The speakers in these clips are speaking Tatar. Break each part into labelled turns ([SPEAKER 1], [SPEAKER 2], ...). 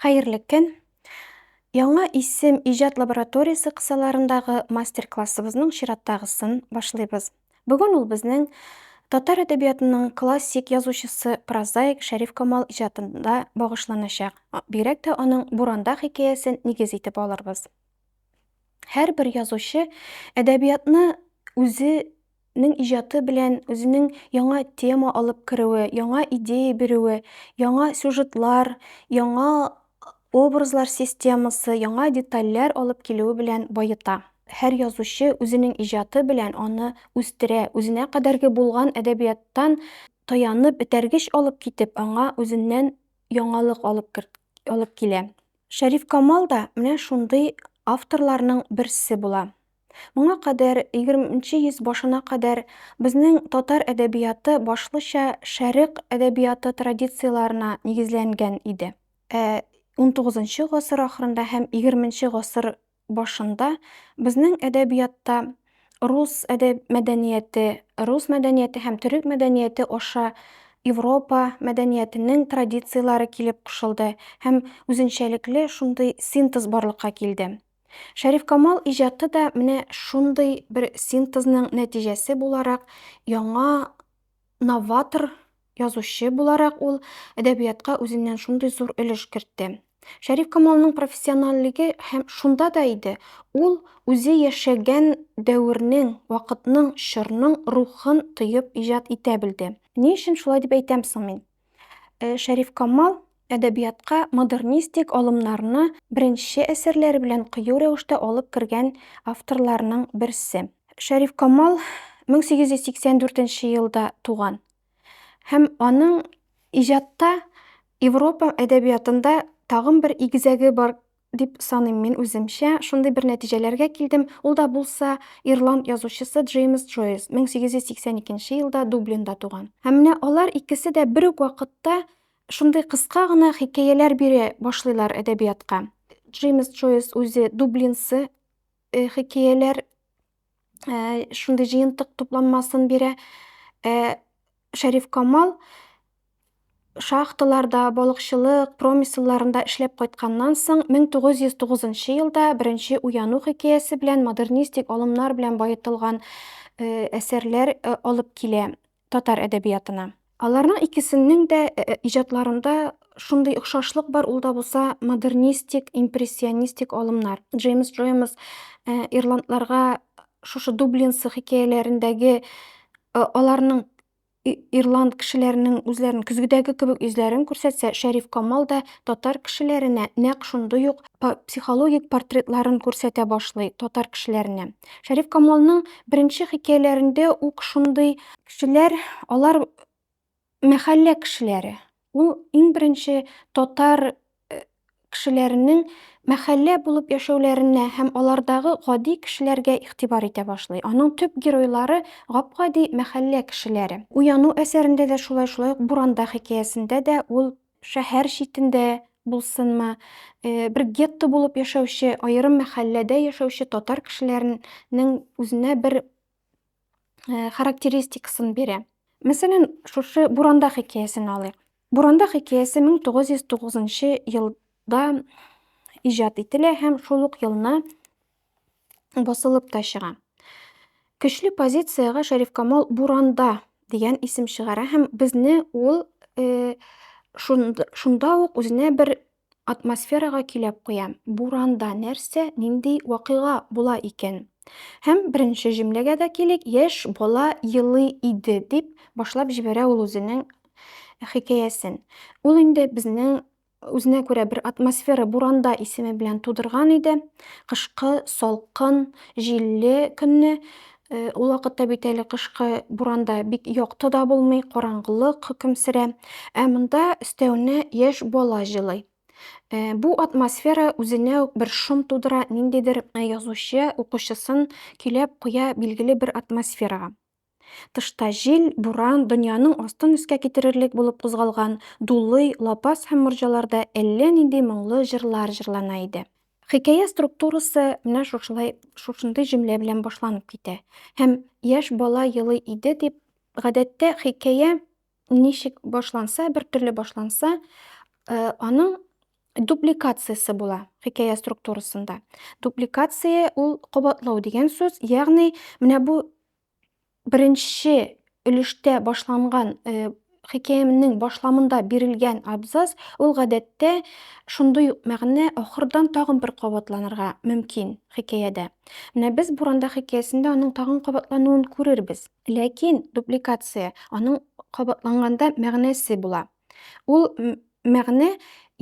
[SPEAKER 1] Хәерле көн! Яңа исем иҗат лабораториясе кысаларындагы мастер-классыбызның чираттагысын башлыйбыз. Бүген ул безнең татар әдәбиятының классик язучысы, прозаик Шәриф Камал иҗатында багышланачак. Бигрәк тә аның Буранда хикәясен нигез итеп алырбыз. Һәрбер язучы әдәбиятны үзе Нең иҗаты белән үзенең яңа тема алып керүе, яңа идея бирүе, яңа сюжетлар, яңа образлар системасы, яңа детальләр алып килүе белән баета. Һәр язучы үзенең иҗаты белән аны үстерә, үзенә кадәрге булган әдәбияттан таянып, этәргеч алып китеп, аңа үзеннән яңалык алып алып килә. Шәрифкамал да менә шундый авторларның берсе була. Моңа кадәр, егерме нче йөз башына кадәр, безнең татар әдәбияты башлыча Шәрык әдәбияты традицияләренә нигезләнгән иде. Ә унтугызынчы гасыр ахырында һәм егерме нче гасыр башында безнең әдәбиятта рус әдәб мәдәнияте, рус мәдәнияте һәм төрек мәдәнияте аша Европа мәдәниятенең традицияләре килеп кушылды һәм үзенчәлекле шундый синтез барлыкка килде. Шәрифкамал иҗаты да менә шундый бер синтезның нәтиҗәсе буларак, яңа новатор язучы буларак ул әдәбиятка үзеннән шундый зур өлеш кертте. Шәрифкамалның профессиональлеге һәм шунда да иде, ул үзе яшәгән дәвернең, вакытның, чорның рухын тоеп иҗат итә белде. Ни өчен шулай дип әйтәм соң мин? Э, Шәриф Камал әдәбиятка модернистик алымнарны беренче әсәрләре белән кыю рәвештә алып кергән авторларның берсе. Шәриф Камал 1884 елда туган һәм аның иҗатта Европа әдәбиятында тагын бер игезәге бар Дип саныйм мин үземчә. Шундый бер нәтиҗәләргә килдем. Ул да булса, ирланд язучысы Джеймс Джойс, 1882 елда Дублинда туган. Һәм менә алар икесе дә бер үк вакытта шундый кыска гына хикәяләр бирә башлыйлар әдәбиятка. Джеймс Джойс үзе дублинцы хикәяләр шундый җыентык тупланмасын бирә. Шәриф Камал шахталарда, балыкчылык, промыселларында эшләп кайтканнан соң, 1909 елда беренче уяну хикәясе белән модернистик алымнар белән баетылган әсәрләр алып килә. татар әдәбиятына. Аларның икесеннең дә иҗатларында шундый охшашлык бар, ул да булса модернистик, импрессионистик алымнар. Джеймс Джоймс ирландларга шушы Дублинсы хикәяләрендәге аларның ирланд кешеләренең үзләрен көзгедәге кебек йөзләрен күрсәтсә, Шәриф Камал да татар кешеләренә нәкъ шундый ук психологик портретларын күрсәтә башлый татар кешеләренә. Шәриф Камалның беренче хикәяләрендә үк шундый кешеләр, алар мәхәллә кешеләре. Ул иң беренче татар э, кешеләренең мәхәллә булып яшәүләренә һәм алардагы гади кешеләргә игътибар итә башлый. Аның төп геройлары гап-гади мәхәллә кешеләре. Уяну әсәрендә дә шулай, шулай ук Буранда хикәясендә дә ул шәһәр читендә булсынмы, бер гетто булып яшәүче, аерым мәхәлләдә яшәүче татар кешеләренең үзенә бер характеристикасын бирә. Мәсәлән, шушы Буранда хикәясен алыйк. Буранда хикәясе 1909 елда иҗат ителә һәм шул ук елны басылып та чыга. Көчле позициягә Шәрифкамал Буранда дигән исем чыгара һәм безне ул э, шунда ук үзенә бер атмосферага киләп куя. Буранда нәрсә, нинди вакыйга була икән? Һәм беренче җөмләгә дә килик, яшь бала елы иде, дип башлап җибәрә ул үзенең хикәясен. Ул инде безнең үзенә күрә бер атмосфера буранда исеме белән тудырган иде. Кышкы салкын, җилле көнне э, ул вакытта бит әле кышкы буранда бик якты да булмый, караңгылык хөкем сөрә. Ә монда өстәвенә яшь бала җылый. Э, бу атмосфера үзенә үк бер шом тудыра, ниндидер э, язучы укучысын көйләп куя билгеле бер атмосферага. Тышта җил, буран, дөньяның астын өскә китерерлек булып кузгалган дулый, лапас һәм морҗаларда әллә нинди моңлы җырлар җырлана иде. Хикәя структурасы менә шушылай, шушындый җөмлә белән башланып китә һәм Яшь бала елый иде дип, гадәттә, хикәя ничек башланса, бер төрле башланса, э, аның дубликациясе була хикәя структурасында. Дубликация ул кабатлау дигән сүз, ягъни менә бу беренче өлештә башланган э, хикәямнең башламында бирелгән абзац ул гадәттә шундый ук мәгънә ахырдан тагын бер кабатланырга мөмкин хикәядә. Менә без Буранда хикәясендә аның тагын кабатлануын күрербез. Ләкин дубликация, аның кабатланганда мәгънәсе була. Ул мәгънә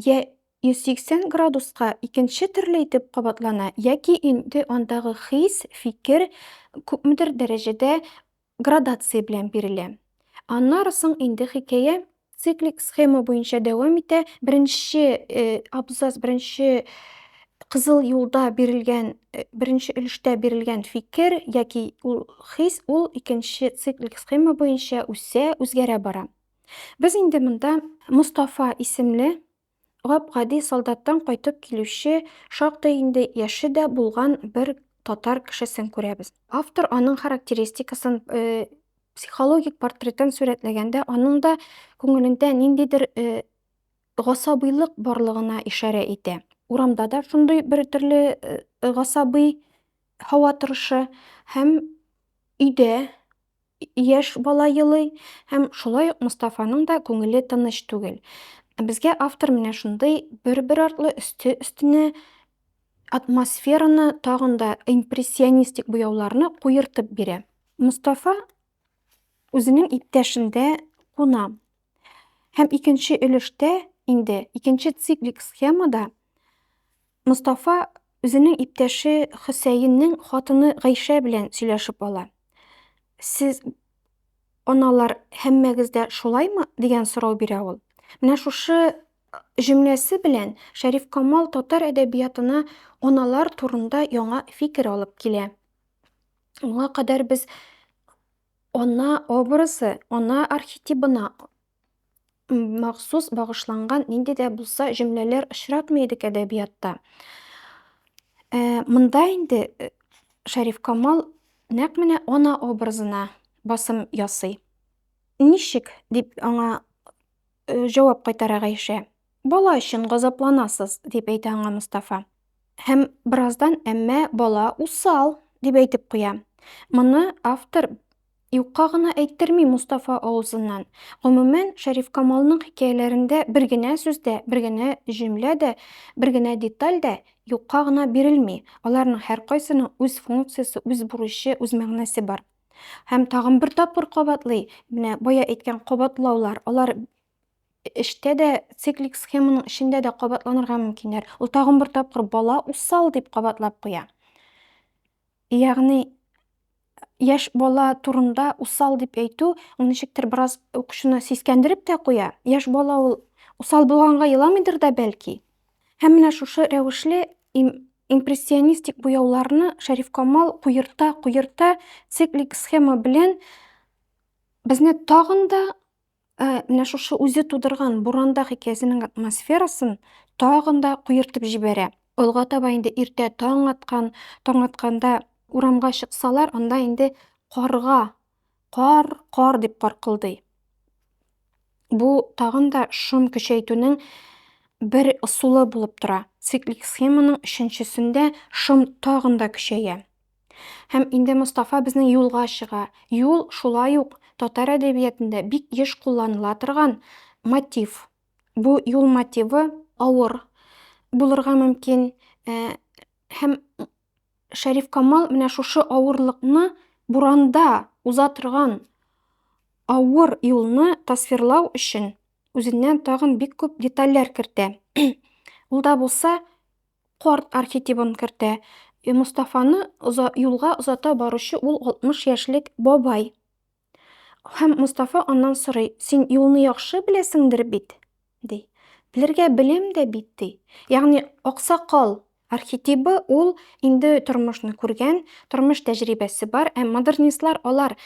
[SPEAKER 1] йә 180 градуска икенче төрле итеп кабатлана, яки инде андагы хис, фикер күпмедер дәрәҗәдә градация белән бирелә. Аннары соң инде хикәя Циклик схема буенча дәвам итә. Беренче абзац, беренче кызыл юлда бирелгән э, беренче өлештә бирелгән фикер яки ул хис ул икенче циклик схема буенча үсә, үзгәрә бара. Без инде монда Мустафа исемле Гап-гади солдаттан кайтып килүче, шактый инде яше дә булган бер татар кешесен күрәбез. Автор аның характеристикасын, психологик портретын сурәтләгәндә, аның да күңелендә ниндидер гасабыйлык барлыгына ишарә итә. Урамда да шундый бер төрле гасабый һава торышы һәм өйдә, Яшь бала елый һәм шулай ук Мостафаның да күңеле тыныч түгел. Безгә автор менә шундый бер-бер артлы өсте-өстенә атмосфераны, тагын да импрессионистик буяуларны куертып бирә. Мостафа үзенең иптәшендә куна. Һәм икенче өлештә, инде икенче циклик схемада Мостафа үзенең иптәше Хөсәеннең хатыны Гайшә белән сөйләшеп ала. Сез, аналар, һәммәгез дә шулаймы? дигән сорау бирә ул. Менә шушы җөмләсе белән Шәрифкамал татар әдәбиятына аналар турында яңа фикер алып килә. Моңа кадәр без ана образы, ана архетибына махсус багышланган нинди дә булса җөмләләр очратмый идек әдәбиятта. Ә, монда инде э, Шәриф Камал нәкъ менә ана образына басым ясый. Ничек дип аңа э, җавап кайтара Гайшә? Бала өчен газапланасыз, дип әйтә аңа Мостафа. Һәм бераздан Әмма бала усал! дип әйтеп куя. Моны автор юкка гына әйттерми Мостафа авызыннан. Гомумән, Шәрифкамалның хикәяләрендә бер генә сүз дә, бер генә җөмлә дә, бер генә деталь дә юкка гына бирелми, аларның һәркайсының үз функциясе, үз бурычы, үз мәгънәсе бар. Һәм тагын бер тапкыр кабатлый, менә бая әйткән кабатлаулар, алар эштә дә циклик схеманың эчендә дә кабатланырга мөмкиннәр. Ул тагын бер тапкыр бала усал дип кабатлап куя. Ягъни яшь бала турында усал дип әйтү ул ничектер бераз укучыны сискәндереп тә куя. Яшь бала ул усал булганга еламыйдыр да бәлки. Һәм менә шушы рәвешле импрессионистик буяуларны Шәриф Камал куерта, куерта циклик схема белән безне тагын да Ә, менә шушы үзе тудырган буранда хикәясенең атмосферасын тагын да куертып җибәрә. Алга таба инде иртә таң аткан, таң атканда урамга чыксалар, анда инде карга кар, кар дип каркылдый. Бу тагын да шом көчәйтүнең бер ысулы булып тора. Циклик схеманың өченчесендә шом тагын да көчәя. Һәм инде Мостафа безнең юлга чыга. Юл, шулай ук, татар әдәбиятында бик еш кулланыла торган мотив. Бу юл мотивы авыр булырга мөмкин. Һәм Шәриф Камал менә шушы авырлыкны буранда уза торган авыр юлны тасвирлау өчен үзеннән тагын бик күп детальләр кертә. Ул да булса Карт архетибын кертә. Мостафаны оза, юлга озата баручы ул 60 яшьлек бабай. Һәм Мостафа аннан сорый, Син юлны яхшы беләсеңдер бит? ди. Белергә беләм дә бит, ди. Ягъни аксакал архетибы ул инде тормышны күргән, тормыш тәҗрибәсе бар. Ә модернистлар алар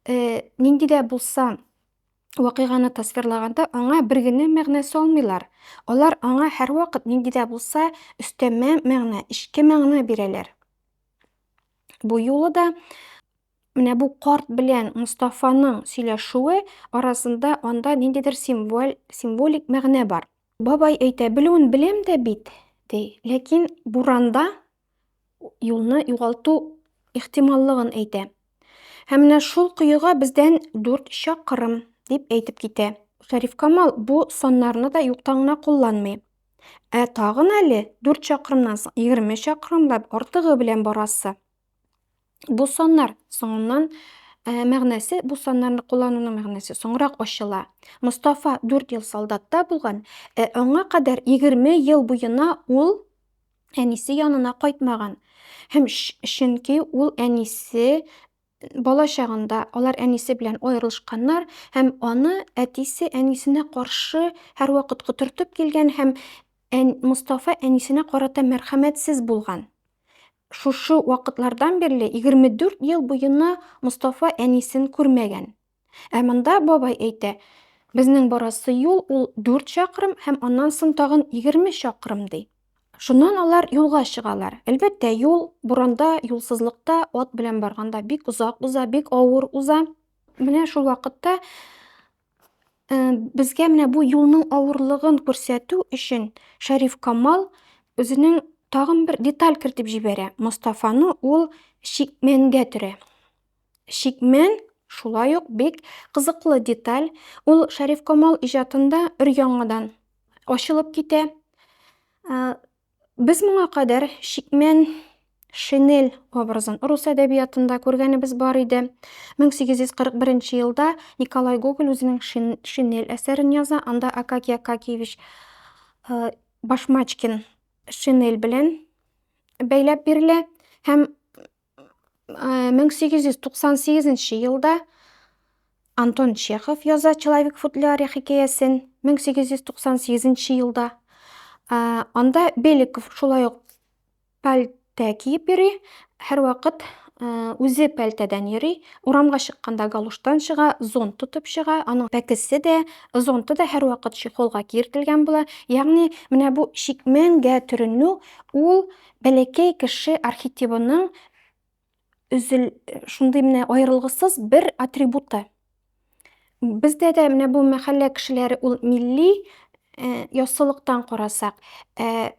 [SPEAKER 1] э, нинди дә булса Вакыйганы тасвирлаганда аңа бер генә мәгънә салмыйлар. Алар аңа һәрвакыт нинди дә булса өстәмә мәгънә, эчке мәгънә бирәләр. Бу юлы да менә бу карт белән Мостафаның сөйләшүе арасында анда ниндидер символ, символик мәгънә бар. Бабай әйтә, белүен беләм дә бит, ди, ләкин буранда юлны югалту ихтималлыгын әйтә. Һәм менә шул коега бездән 4 чакрым, дип әйтеп китә. Шәриф Камал бу саннарны да юктан гына кулланмый. Ә тагын әле 4 чакрымнан соң 20 чакрымлап артыгы белән барасы. Бу саннар соңыннан ә, мәгънәсе, бу саннарны куллануның мәгънәсе соңрак ачыла. Мостафа 4 ел солдатта булган, ә аңа кадәр 20 ел буена ул әнисе янына кайтмаган. Һәм чөнки ул әнисе бала чагында алар әнисе белән аерылышканнар һәм аны әтисе әнисенә каршы һәрвакыт котыртып килгән һәм ән, Мостафа әнисенә карата мәрхәмәтсез булган. Шушы вакытлардан бирле 24 ел буена Мостафа әнисен күрмәгән. Ә монда бабай әйтә, Безнең барасы юл ул дүрт чакрым һәм аннан соң тагын егерме чакрым, ди. Шуннан алар юлга чыгалар. Әлбәттә, юл, буранда, юлсызлыкта, ат белән барганда бик озак уза, бик авыр уза. Менә шул вакытта безгә менә бу юлның авырлыгын күрсәтү өчен Шәриф Камал үзенең тагын бер деталь кертеп җибәрә. Мостафаны ул чикмәнгә төрә. Чикмен, шулай ук бик кызыклы деталь, ул Шәрифкамал иҗатында өр-яңадан ачылып китә. Без моңа кадәр чикмен шинель образын рус әдәбиятында күргәнебез бар иде. 1841 елда Николай Гоголь үзенең шинель әсәрен яза, анда Акакий Акакиевич э, Башмачкин шинель белән бәйләп бирелә һәм 1898 э, елда Антон Чехов яза Человек в футляре хикәясен 1898 елда. Э, анда Беликов шулай ук пәлтә киеп йөри, һәрвакыт э, үзе пәлтәдән йөри, урамга чыкканда галуштан чыга, зонт тотып чыга, аның пәкесе дә, зонты да һәрвакыт чехолга киертелгән була. Ягъни, менә бу чикмәнгә төренү ул Бәләкәй кеше архетибының үзел шундый менә аерылгысыз бер атрибуты. Бездә дә менә бу мәхәллә кешеләре ул милли э, яссылыктан карасак, э,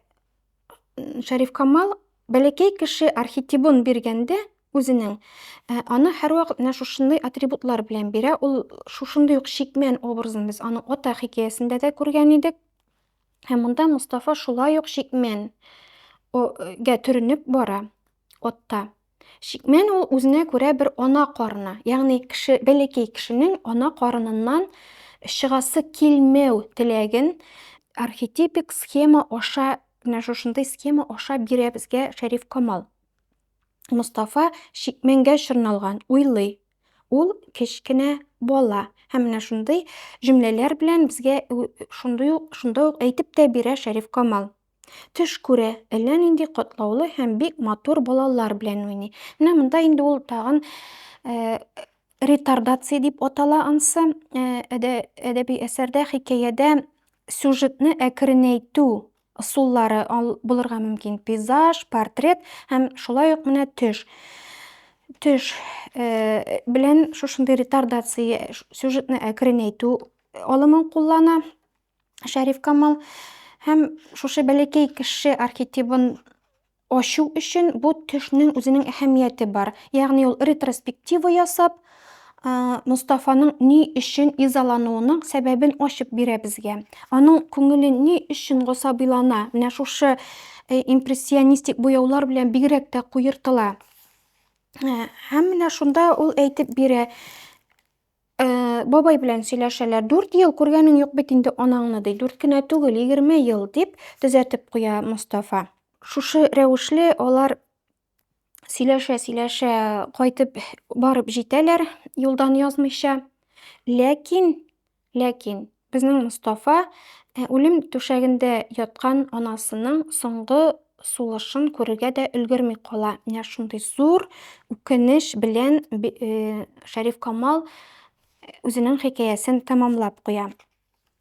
[SPEAKER 1] Шәриф Камал бәләкәй кеше архетибын биргәндә үзенең э, аны һәрвакыт менә шушындый атрибутлар белән бирә. Ул шушындый ук чикмән образын без аның ата хикәясендә дә күргән идек. Һәм монда Мустафа шулай ук шикмен гә төренеп бара отта. Шикмен ул үзенә күрә бер ана карыны, ягъни кеше бәләкәй кешенең ана карыныннан чыгасы килмәү теләген архетипик схема аша менә шушындый схема аша бирә безгә Шәриф Камал. Мустафа шикменгә чорналган, уйлый, Ул, кечкенә бала. Һәм менә шундый җөмләләр белән безгә шундый ук, шунда ук әйтеп тә бирә Шәриф Камал. Төш күрә, әллә нинди катлаулы һәм бик матур балалар белән уйный. Менә монда инде ул тагын ретардация дип атала ансы, әдәби әсәрдә, хикәядә сюжетны әкренәйтү Ысуллары булырга мөмкин пейзаж, портрет һәм шулай ук менә төш. Төш э, белән шушындый ретардация сюжетны әкренәйтү алымын куллана Шәриф Камал һәм шушы бәләкәй кеше архетибын Ачу өчен бу төшнең үзенең әһәмияте бар. Ягъни ул ретроспектива ясап, Мостафаның ни өчен изалануының сәбәбен ачып бирә безгә. Аның күңеле ни өчен госабыйлана, менә шушы импрессионистик буяулар белән бигрәк тә куертыла. Һәм менә шунда ул әйтеп бирә, бабай белән сөйләшәләр. Дүрт ел күргәнең юк бит инде анаңны, ди. Дүрт кенә түгел, егерме ел, дип төзәтеп куя Мостафа. Шушы рәвешле алар сөйләшә-сөйләшә кайтып барып җитәләр, юлдан язмыйча. Ләкин, ләкин Безнең Мостафа үлем түшәгендә яткан анасының соңгы сулышын күрергә дә өлгерми кала. Менә шундый зур үкенеч белән Шәриф Камал үзенең хикәясен тәмамлап куя.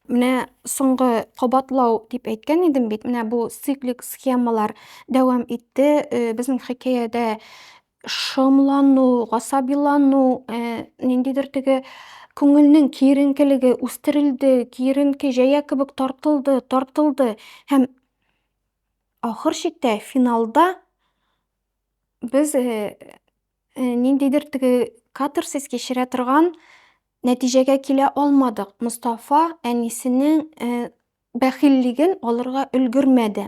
[SPEAKER 1] Менә соңгы кабатлау дип әйткән идем бит, менә бу циклик схемалар дәвам итте. Безнең хикәядә шомлану, гасабилану, э, ниндидер теге күңелнең киеренкелеге үстерелде, киеренке җәя кебек тартылды, тартылды һәм ахыр чиктә финалда без э, э, ниндидер теге катарсис кичерә торган нәтиҗәгә килә алмадык. Мостафа әнисенең э, бәхиллеген алырга өлгермәде.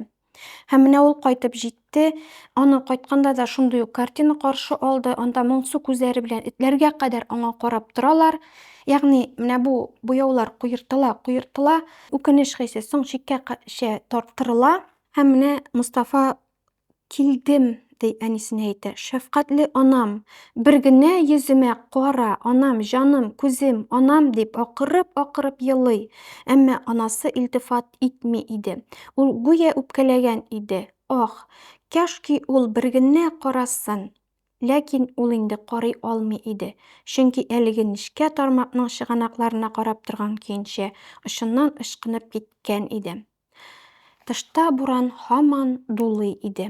[SPEAKER 1] Һәм менә ул кайтып җитте. Аны кайтканда да шундый ук картина каршы алды. Анда моңсу күзләре белән этләргә кадәр аңа карап торалар. Ягъни, менә бу буяулар куертыла, куертыла, үкенеч хисе соң чиккә чә тарттырыла. Һәм менә Мостафа Килдем, ди әнисенә әйтә. Шәфкатьле анам, бер генә йөземә кара, анам, җаным, күзем, анам, дип акырып-акырып елый. Әмма анасы илтифат итми иде. Ул гүя үпкәләгән иде. Ах, кәшки ул бер генә карасын! Ләкин ул инде карый алмый иде. Чөнки әлеге нечкә тармакның чыганакларына карап торган көенчә, очыннан ычкынып киткән иде. Тышта буран һаман дулый иде.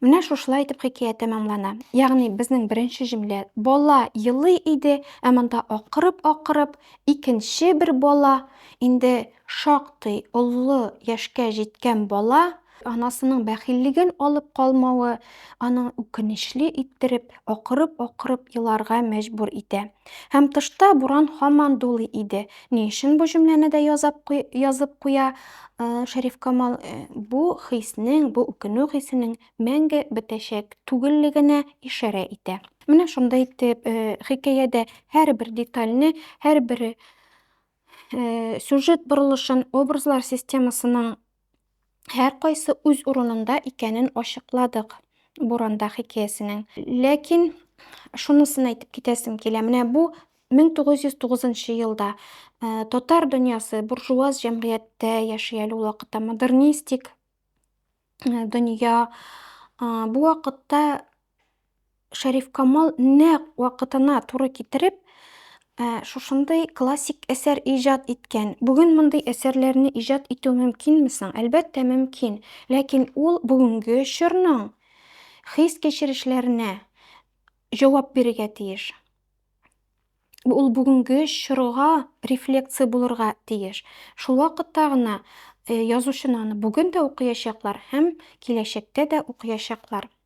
[SPEAKER 1] Менә шушылай итеп хикәя тәмамлана. Ягъни безнең беренче җөмлә бала елый иде, ә монда акырып-акырып икенче бер бала, инде шактый олы яшькә җиткән бала анасының бәхиллеген алып калмавы аның үкенечле иттереп акырып-акырып еларга мәҗбүр итә. Һәм тышта буран һаман дулый иде. Ни өчен бу җөмләне дә язап куй, язып куя э, Шәриф Камал? Э, бу хиснең, бу үкенү хисенең мәңге бетәчәк түгеллегенә ишарә итә. Менә шунда итеп, э, хикәядә һәрбер детальне, һәрбер э, сюжет борылышын, образлар системасының һәркайсы үз урынында икәнен ачыкладык Буранда хикәясенең. Ләкин шунысын әйтеп китәсем килә, менә бу 1909 елда э, татар дөньясы буржуаз җәмгыятьтә яши әле ул вакытта модернистик э, дөнья. Э, бу вакытта Шәрифкамал нәкъ вакытына туры китереп, ә, шушындый классик әсәр иҗат иткән. Бүген мондый әсәрләрне иҗат итү мөмкинме соң? Әлбәттә, мөмкин. Ләкин ул бүгенге чорның хис-кичерешләренә җавап бирергә тиеш. Ул бүгенге чорга рефлекция булырга тиеш. Шул вакытта гына э, язучыны аны бүген дә укыячаклар һәм киләчәктә дә укыячаклар.